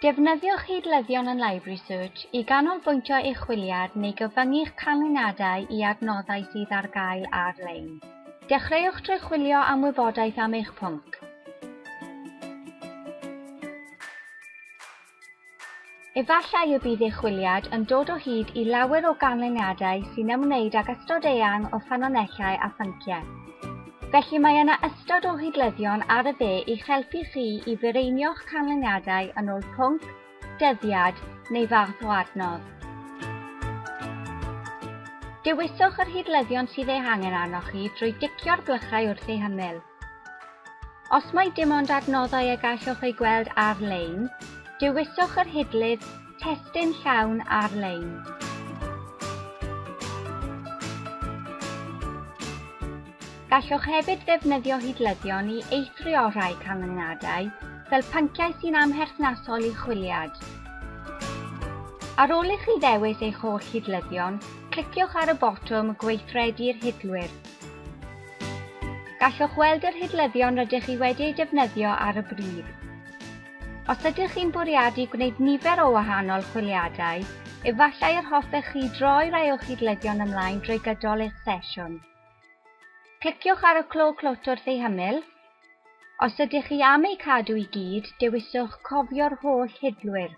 Defnyddiwch hidlyddion yn Library Search i ganolbwyntio eich chwiliad neu gyfyngu'ch canlyniadau i adnoddau sydd ar gael ar-lein. Dechreuwch drwy chwilio am wybodaeth am eich pwnc. Efallai y bydd eich chwiliad yn dod o hyd i lawer o ganlyniadau sy'n ymwneud ag ystod eang o ffynonellau a phynciau. Felly mae yna ystod o hidlyddion ar y dde i'ch helpu chi i fireinio'ch canlyniadau yn ôl pwnc, dyddiad neu fath o adnodd. Dewiswch yr hidlyddion sydd eu hangen arnoch chi drwy dicio'r blychau wrth eu hymyl. Os mae dim ond adnoddau y gallwch eu gweld ar-lein, dewiswch yr hidlydd Testun Llawn Ar-lein. Gallwch hefyd ddefnyddio hidlyddion i eithrio rhai canlyniadau, fel pynciau sy'n amherthnasol i chwiliad. Ar ôl i chi ddewis eich holl hidlyddion, cliciwch ar y botwm Gweithredu'r Hidlwyr. Gallwch weld yr hidlyddion rydych chi wedi eu defnyddio ar y bryd. Os ydych chi'n bwriadu gwneud nifer o wahanol chwiliadau, efallai yr hoffech chi droi rai o'ch hidlyddion ymlaen drwy gydol eich sesiwn. Cliciwch ar y clo clwt wrth ei hymyl. Os ydych chi am eu cadw i gyd, dewiswch Cofio'r holl hidlwyr.